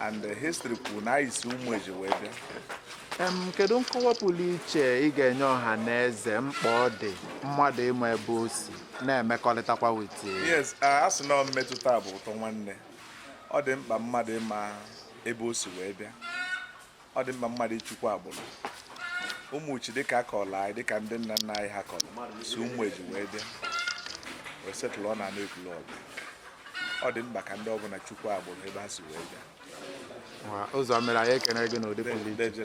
and the history kwuru na anyị si ụmụeji wee bịa Em, kedu nkọwa pụrụ iche ị ga-enye ọha na eze mkpa ọ dị mmadụ ịma ebe o si na-emekọrịtakwa with yes a a sị na mmetụta bụ ụtọ nwanne ọ dị mkpa mmadụ ịma ebe o si wee bịa ọ dị mma mmadụ ịchụkwa agbụrụ ụmụchi dịka a kọrọ anyị dịka ndị nna nna anyị ha kọrọ si ụmụeji wee bịa wee setụlụọ na ana ekwulọbịa ọ dị mkpa ka ndị ọbụla chụkwuo agbụrụ ebe ha si wee bịa ụzọ mere anyị ekene gị n'ụdị pụrụ iche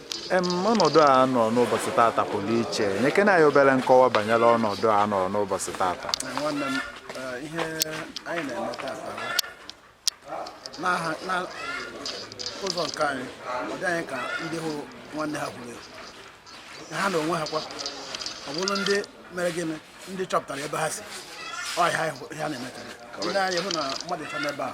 Em, ọnọdụ a nọ n'ụbọchị tata pụrụ iche nyekene anyị obere nkọwa banyere ọnọdụ a nọ n'ụbọchị tata nwanne m eh, ihe anyị na-eme tata bụ n'aha- na ụzọ nke anyị ọ dị anyị ka ndị hụ nwanne ha kwuru ekwu. ha na onwe ha kwa ọ bụrụ ndị mere gịnị ndị chọpụtara ebe ha si ọ ihe anyị hụ- ihe a na-eme taa. Ndị anyị hụ na mmadụ ịcha n'ebe a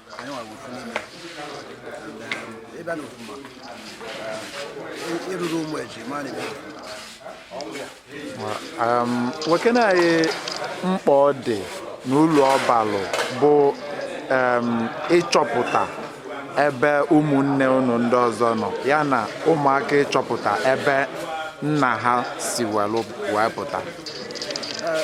um, gwakene anyị mkpa ọ dị na ulu ọ balụ bụ um, ịchọpụta ebe ụmụnne unu ndị ọzọ nọ ya na ụmụaka ịchọpụta ebe nna ha si wee pụta uh,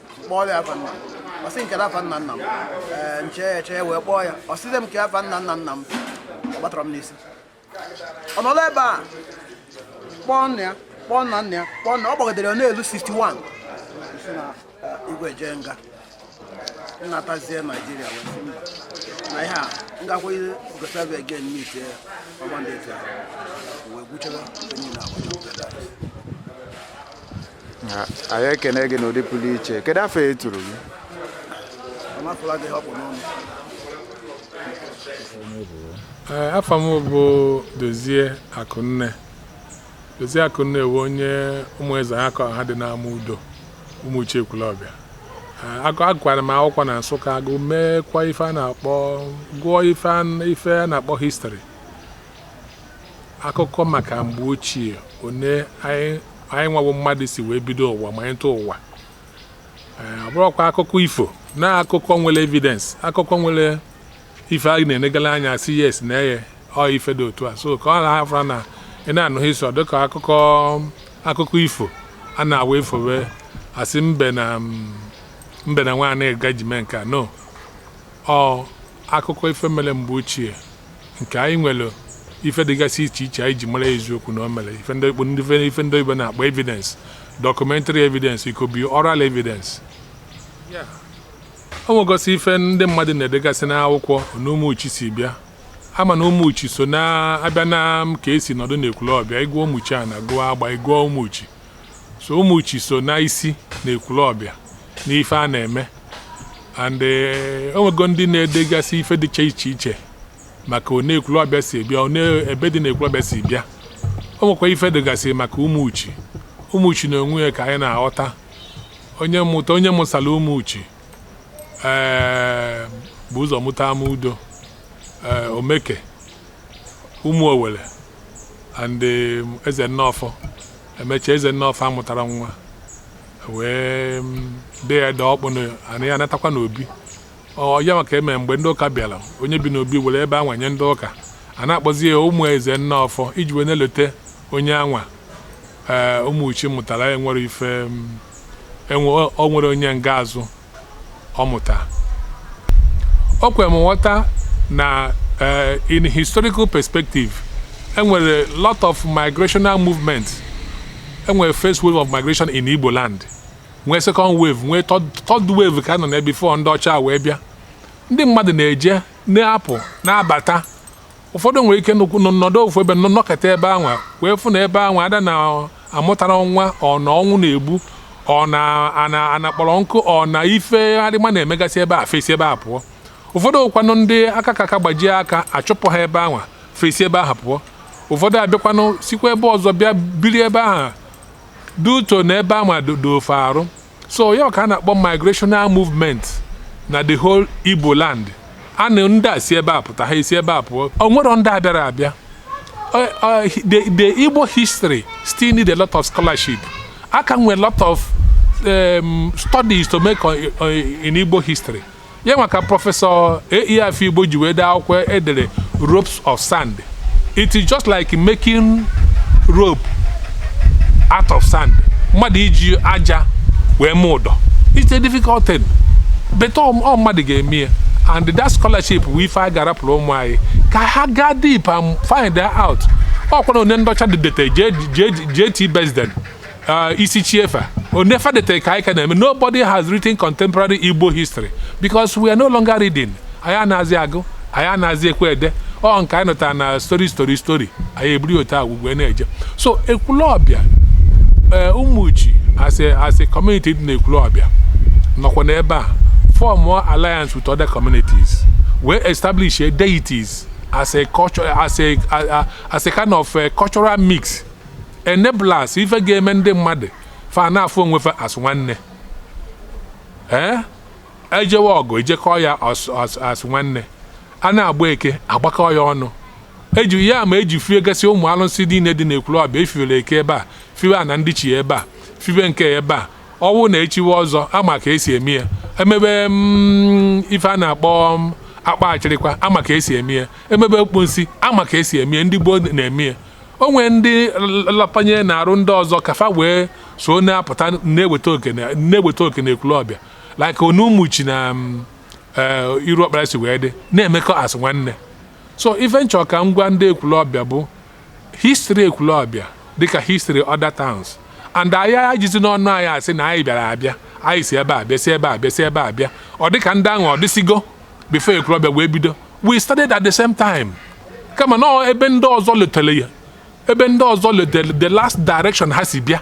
kpọọ ya afa nna m ọ sị m kee afa nna nna m ee m chee ya eche ya wee kpọọ ya ọ sịzie m kee afa nna nna nna m ọ gbatara m n'isi ọ nọrọ ebe a kpọọ nna ya kpọọ nna nna ya kpọọ nna ọ gbagotere ya n'elu 61 si na eh, igwe jee nga m natazie naijiria wee sị mba na ihe a m gakwa yugoslavia again meet ya ọgbandị etu ahụ wee gwuchara onye na-agwa anyị ekene gị n'ụdị pụrụ iche kedu afa e turu gị afa m bụ dozie akụnne dozie akụnne bụ onye ụmụ ezeaka ha dị n'ama udo ụmụchi ekwulọbịa agụkwara m akwụkwọ na nsụka agụ meekwa ife a na-akpọ gụọ ife a na-akpọ history akụkọ maka mgbe ochie one anyị anyị nwa bụ mmadụ si wee bido ụwa ma anyị tụọ ụwa Ee, ọ bụrọkwa akụkọ ifo na akụkọ nwere evidence akụkọ nwere ife a na-enegala anya sị yes na eye ọ ife dị otu a so ka ọ na-afụra na ị na-anụ history dịka akụkọ akụkọ ifo a na-awa e fowe a sị mbe na mm, mbe na nwaanyị aga jee mee nke a no Ọ akụkọ ife mere mgbe ochie nke anyị nwere ife dịgasị iche iche anyị ji mara eziokwu na o mere ife ndị Igbo- ndị- ife ndị Igbo na-akpọ evidence documentary evidence it could be oral evidence o nwegosi ife ndị mmadụ na-edegasị n'akwụkwọ na Ụmụchi si bịa ama na Ụmụchi so na-abịa na ka e si nọdụ n'Ekwulọbịa ị gụọ Ụmụchiana gụọ Agba ị gụọ Ụmụchi so Ụmụchi so na isi na Ekwulọbịa n'ife a na-eme and eh, o nwego ndị na-edegasị ife dịcha iche iche maka one Ekwulọbịa si bịa one ebe dị na Ekwulọbịa si bịa o nwekwa ife dịgasị maka Ụmụchi Ụmụchi na onwe ya ka anyị na-aghọta onye mụta onye mụsara Ụmụchi ee eh, bu ụzọ mụta Amaudo eh, Omeke Umuowele and um, Eze Nneọfọ emecha Eze Nneọfọ amụtara nwa wee um, dee ya dee ọkpụ na- ana ya anatakwa n'obi ọ ya maka eme mgbe ndị ụka bịara onye bi n'obi were ebe anwa nye ndị ụka a na-akpọzi ya Ụmụ Eze Nneọfọ iji wee na-elote onye anwa ee Ụmụchi mụtara enwere ife um, enwe o nwere onye nga azụ ọ mụta. O kwere m nghọta na eh, in historical perspective, e nwere lot of migrational movement. E nwere first wave of migration in Igbo land, nwee second wave, nwee third third wave ka a nọ na before ndị ọcha wee bịa. Ndị mmadụ na-eje, na-apụ, na-abata. ụfọdụ nwere ike nnukwu nọ nọdụ ofu ebe nọ- nọkọta ebe anwa wee fụ na ebe anwa ada na amụtara nwa ọ na ọnwụ na-egbu ọ na ana ana kpọrọ nkụ ọ na ife arịma na-emegasị ebe ahụ fe esi ebe ahụ pụọ ụfọdụ kwanụ ndị aka ka aka gbajie aka achụpụ ha ebe anwa fe esi ebe ahụ pụọ ụfọdụ abịakwanụ sikwa ebe ọzọ bịa biri ebe ahụ due to na ebe anwa doro fe arụ so ya ka a na-akpọ migrational movement na the whole Igbo land a na ndị a si ebe a pụta ha esi ebe a pụọ o nwere ndị a bịara abịa Uh, uh, the, the Igbo history still need a lot of scholarship. A ka nwee a lot of um, studies to make on, on, in Igbo history. ya nwa ka Professor A.E. Afigbo ji wee dee akwụkwọ e dere ropes of sand it is just like making rope out of sand mmadụ iji aja wee mee ụdọ it's a difficult thing but ọ mmadụ ga-eme ya and that scholarship bụ ife a ga-arapụrụ ụmụ anyị ka ha gaa deep and find out ọkwara onye ndị ọcha de- dete G- G- G.T. Basden Uh, Isichei fa ọ nke fa dete ka anyị ka na-eme nobody has written contemporary igbo history because we are no longer reading anyị anazi agụ anyị anazi ekwe ede ọ nke anyị nụtara na story story story anyị eburu otu agwụgwe na-eje so ekwulọbịa eh, ụmụchi as a as a community dị na ekwulọbịa nọkwa n'ebe a formụọ alliance with other communities wee establish deities as a culture as a as a kind of a eh, cultural mix enablers ife ga-eme ndị mmadụ fa na-afụ onwe fa as nwanne ee ejewe ọgụ ejekọọ ya as- as- as nwanne a na-agba eke agbakọ ya ọnụ eji ya ma eji fie gasị ụmụ alụsị niile dị n'Ekwulọbịa efiwere eke ebe a fiwe ana ndịchie ebe a fiwe nke ya ebe a ọ wụ na echiwe ọzọ ama ka esi eme ya emebe mm, ife a na-akpọ mm, akpa achịrịkwa ama ka esi eme ya emebe okponsi ama ka esi eme ya ndị gboo na-eme ya o nwere ndị lapanye n'arụ ndị ọzọ ka fa wee so na-apụta na-eweta oke na-eweta oke na ekwulọbịa like Ụmụchi na um, eh, Iruọkpara si wee dị na-emekọ as nwanne so ife m chọ ka m gwa ndị ekwulọbịa bụ history ekwulọbịa dịka history other towns and anyị ejizina ọnụ anyị asị na anyị bịara abịa anyị si ebe a bịa si ebe a bịa si ebe a bịa ọ dịka ndị ahụ adịsigo before Ekwulọbịa wee bido we started at the same time kama na ebe ndị ọzọ letele ya ebe ndị ọzọ letele the last direction ha si bịa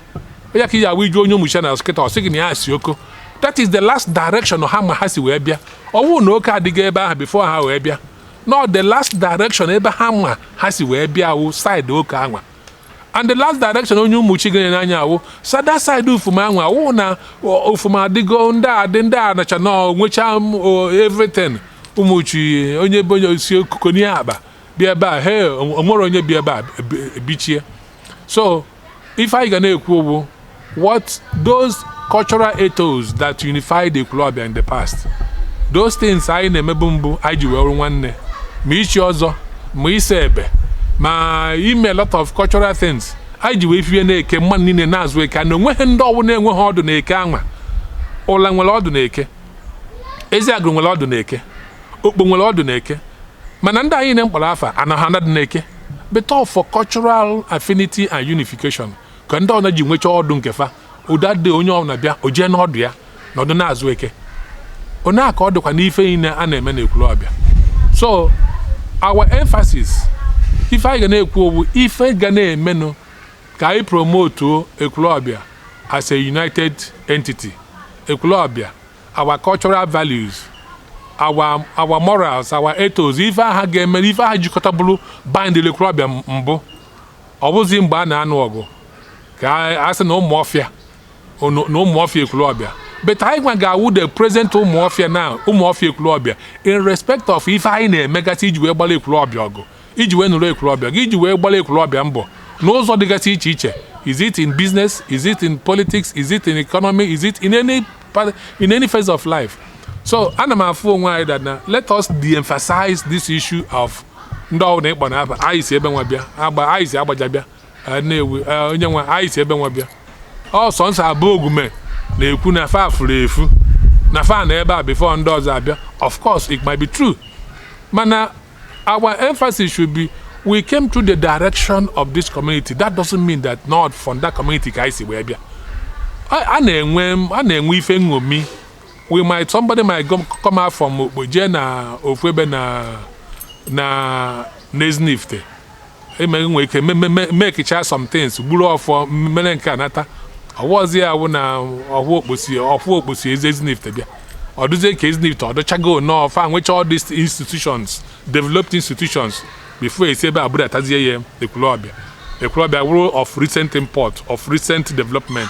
ya ka ị ya ịjụ onye Ụmụchiana kịta ọ sị gị na ya si Oko that is the last direction ha ma ha si wee bịa ọ wụ na Oko adịghị ebe ahụ before ha wee bịa no the last direction ebe ha ma ha si wee bịa wụ side Oko anwa and the last direction onye Ụmụchi ganyere anya awụ sada side Ufuma ahụ ọ wụ na Ufuma adịgo ndị adị ndị a nacha na nwecha everything ụmụchi onye be onye osi okuko n'ihe akpa bịa ebe a he onwere onye bịa ebe a bichie so ife anyị ga na-ekwu wụ What those cultural ethos that unified Ekwulọbịa in the past those things anyị na-emebu mbụ anyị ji wee nwanne ma ichi ọzọ ma ise ebe ma ime a lot of cultural things anyị ji wee fie na-eke mmadụ niile na-azụ eke na onweghị ndị ọwụna enweghị ọdụ na eke anwa Ụla nwere ọdụ na eke Eziagụlụ nwere ọdụ na eke Okpo nwere ọdụ na eke mana ndị anyị na-akpọrọ afa anaghị anọdị na eke but all for cultural affinity and unification ka ndị ọwụna ji nwechaa ọdụ nke fa ọdụ adị onye ọbụla bịa o jee n'ọdụ ya na ọdụ na-azụ eke ọ ya ka ọ dịkwa n'ife niile a na-eme na Ekwulọbịa so our emphasis ife anyị ga na-ekwu ọ wụ ife ga na-emenụ ka anyị promotuo Ekwulọbịa as a united entity Ekwulọbịa our cultural values our our morals our ethos ife aha ga-eme ife aha jikọtaburu bind Ekwulọbịa mbụ Ọ bụzi mgbe a na-anụ ọgụ ka a sị na ụmụọfịa na ụmụọfịa ekwulọbịa but anyị nwa ga-awụ the present ụmụọfịa na ụmụọfịa ekwulọbịa in respect of ife anyị na-emegasị iji wee gbara ekwulọbịa ọgụ iji wee nụrụ ekwulọbịa ọgụ iji wee gbara ekwulọbịa mbọ n'ụzọ dịgasị iche iche is it in business is it in politics is it in economy is it in any part in any phase of life so ana m afụ onwe anyị that na let us de-emphasize this issue of ndị ọbụla ị kpọ n'afa anyị si ebe nwa bịa Agba anyị si Agbaja bịa eh, na-ewu eh, onye nwa anyị si ebe nwa bịa ọsọ nsọ Abogwume na-ekwu na fa furu efu na fa nọ ebe a before ndị ọzọ abịa of course it might be true mana our emphasis should be we came through the direction of this community that doesn't mean that na ọ from that community ka anyị si wee bịa a a na-enwe a na-enwe ife nṅomi we might somebody might go come out from Okpo jee na ofu ebe na na n'Ezinifite eme nwee ike me- me- me- mekicha some things gburu ọfọ mere nke a nata ọ wụọzi ya wụ na ọhụ Okpo si ọhụ Okpo si Ezi Ezinifite bịa ọ dụzie ka Ezinifite ọ dụchago nnọọ fa nwecha all these institutions developed institutions before e si ebe a budatazie ya ekwulọbịa ekwulọbịa wụrụ of recent import of recent development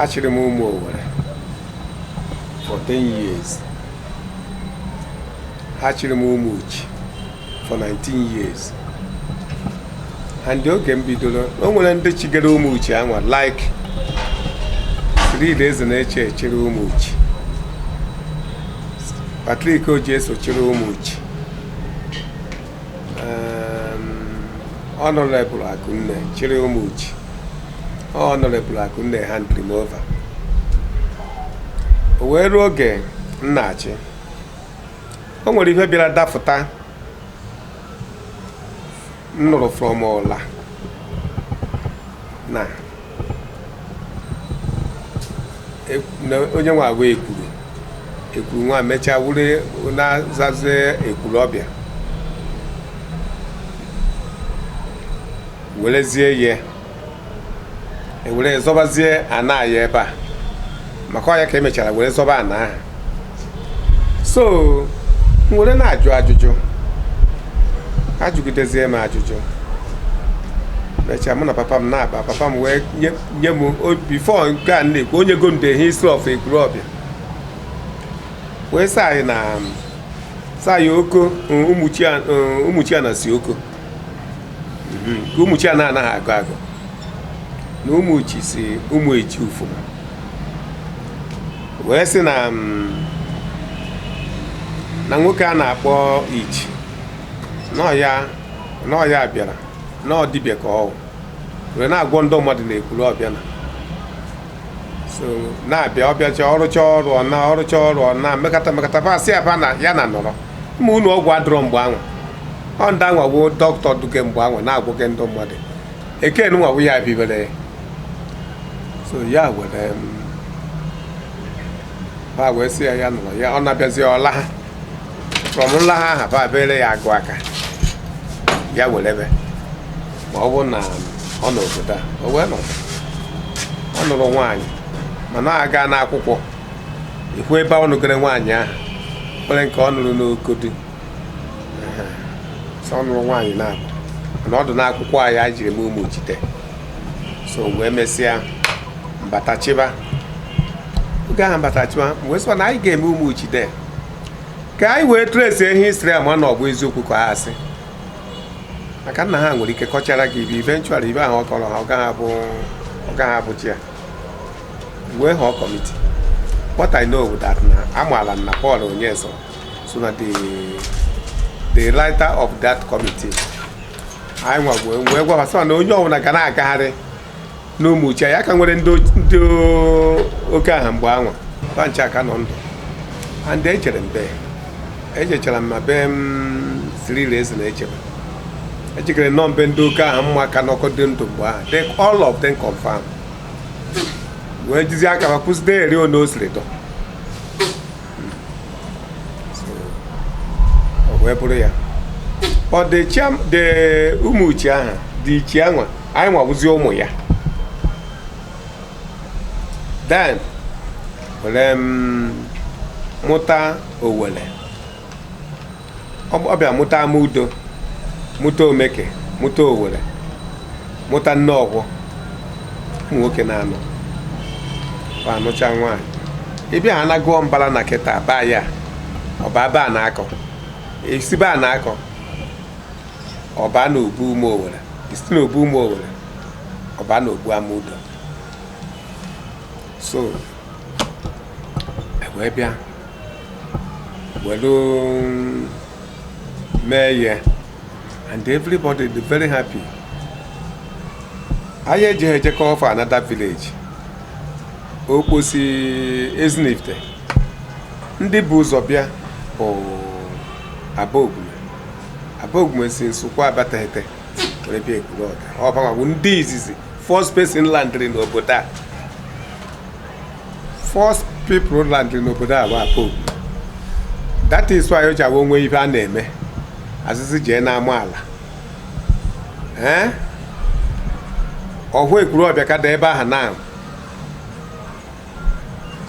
achịrị m ụmụ Owere for 10 years achịrị m Ụmụchi for 19 years and oge m bidoro o nwere ndị chigere Ụmụchi a nwa like Fred Ezeneche chịrị Ụmụchi Patrick Oji eso chịrị Ụmụchi Honourable Akụnne chịrị Ụmụchi Honourable Akụnne handịrị m over o wee ruo oge m na-achị o nwere ihe bịara dafụta m nụrụ from Ụla na e- na onye nwa a wụ Ekwuru Ekwuru nwa mechaa wụrụ na-azazi Ekwurọbịa werezie ya were zọbazie ana ya ebe a maka ọ ya ka e mechara were zọba ana ahụ so m were na-ajụ ajụjụ ajụgidezie m ajụjụ mechaa mụ na papa m na-akpa papa m wee nye- nye m o- before nke a na-ekwu o nyego m the history of Ekwurọbịa wee sị anyị na sị anyị Oko Ụmụchiana si Oko nke ụmụchi a na-anaghị agụ agụ na ụmụchi si ụmụeji ufuma wee sị na mm, na nwoke a na-akpọ ichi n'ọya bịara na ọ dibịa ka ọ wụ were na-agwọ ndị mmadụ na ekwulobia na so na-abịa ọ bịacha ọ rụcha ọrụ ọ naa ọ rụcha ọrụ ọ naa mekata mekata ba sị ya ba na ya na nọrọ ma ụnọ ọgwụ adịrọ mgbe anwa ọ ndị anwa bụ dọkịta duke mgbe anwa na-agwọke ndị mmadụ eken nwa bụ ya bibere ya so ya were m ha wee sị ya ya nọrọ ya ọ na-abịazi ụla ha from ụla ha aha ba bere ya agụ aka ya were ebe ma ọ bụ na ọ nọ obodo a o wee nọ ọ nụrụ nwaanyị mana a gaa n'akwụkwọ ikwu ebe ọ nụgere nwaanyị ahụ nwere nke ọ nụrụ n'okodi so ọ nụrụ nwaanyị naabọ na ọ dị n'akwụkwọ anyị anyị jiri mee ụmụchi day so wee mesịa m bata chịba oge ahụ m bata chịba wee sịkwa na anyị ga-eme ụmụchi day ka anyị wee trace history ma na ọ bụ eziokwu ka ọ asị maka nna ha nwere ike kọchara gị ibe eventually ibe ahụ ọ kọrọ ha ọ gaghị abụ ọ gaghị abụcha ya wee họọ kọmiti what i know bụ that na amaala m na paul onyeso so na the the writer of that committee anyị nwa wee wee gwa ha sị na onye ọbụla ga na-agagharị n'ụmụchi ya ka nwere ndị o- ndị o- oke aha mgbe anwa ba ncha ka nọ ndụ and ejere m be ejechara m ma be cyril ezeneche be ejikere nọ mbe ndị oke aha m ma ka nọkọ dị ndụ mgbe ahụ they all of them confirm wee jizi aka ha kuzidere anyị one o siri dọ ọ wee bụrụ ya ọ dị chiam the ụmụchi ahụ the ichi anwa anyị nwabụzi ụmụ ya then were mụta owere ọ bịa mụta amudo mụta omeke mụta owere mụta nneọgwọ ụmụ nwoke na-anọ ọ anụcha nwaanyị ị bịa ha na-agụọ mbala na kịta baa ya ọba ba na-akọ isi ba na-akọ ọba na obu ụmụ owere isi na obu ụmụ owere ọba na obu amudo so wee bịa welu mee ya and everybody dị very happy anyị eji ha ejekọ ofe another village okpo si ezinifte ndị bu ụzọ bịa bụ abogwume abogwume si nsukwu abatete ekwulobia ọ bụ ndị izizi first person landịrị n'obodo a first people landịrị n'obodo a bụ Abogwume that is why o ji awụ o nwee ife a na-eme a sị sị jee n'ama ala ee ọhụ ekwulobia ka dị ebe ahụ na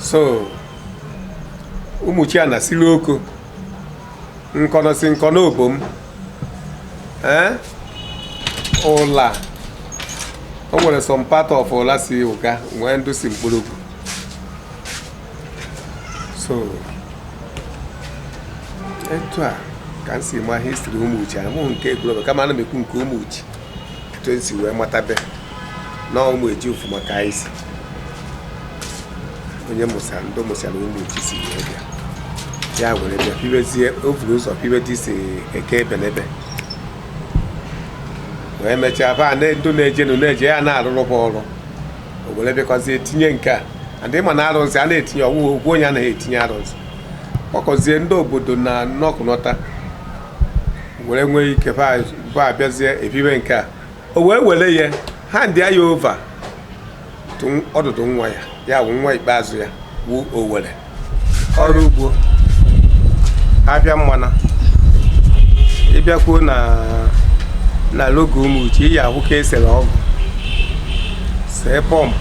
so umuchiana siri oko nkọnọ si nkọnọ obom ee ụla o nwere some part of ụla si ụga nwee ndụ si nkpologwu so etu a ka m si ma history umuchi amụghị nke ekwulobia kama ana m ekwu nke umuchi etu e si wee matabe na umuchi ofu maka anyị si onye mụsara ndị mụsara umuchi si wee bịa ya were bịa bibezie o buru ụzọ bibe dị isi eke ebenebe wee mechaa ba na ndị na-ejenu na-eje ya na-arụrụ fa ọrụ o were bịakwazie tinye nke a adị ma na arụzi a na-etinye ọwụwa okwu onye anaghị etinye arụzi kpọkọzie ndị obodo na nnọkọnọta were nwee ike fa abịazie ebibe nke a o wee were ya handịa ya over ọdụdụ nwa ya ya bụ nwa ikpeazụ ya wụ owere ọrụ ugbo afịa mmanụ ị bịakwuo na na logo umuchi ị ya-ahụ ka e sere ọgụ see pump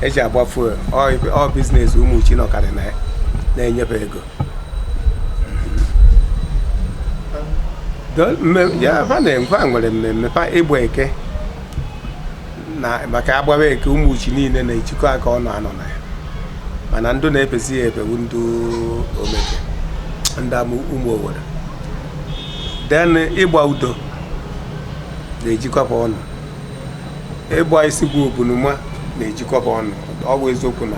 e ji agba fuel ọ business umuchi nọkarị na ya na-enye fa ego ha nwere mmemme fa ịgba eke na maka a gbawa eke umuchi niile na-ejikọ aka ọnụ anọ na ya mana ndụ na-efezi ya efe wụ ndị omeke ndị ụmụ owere then ịgba udo na-ejikọ fa ọnụ ịgba isigwu obunuma na-ejikọ fa ọnụ ọ bụ eziokwu na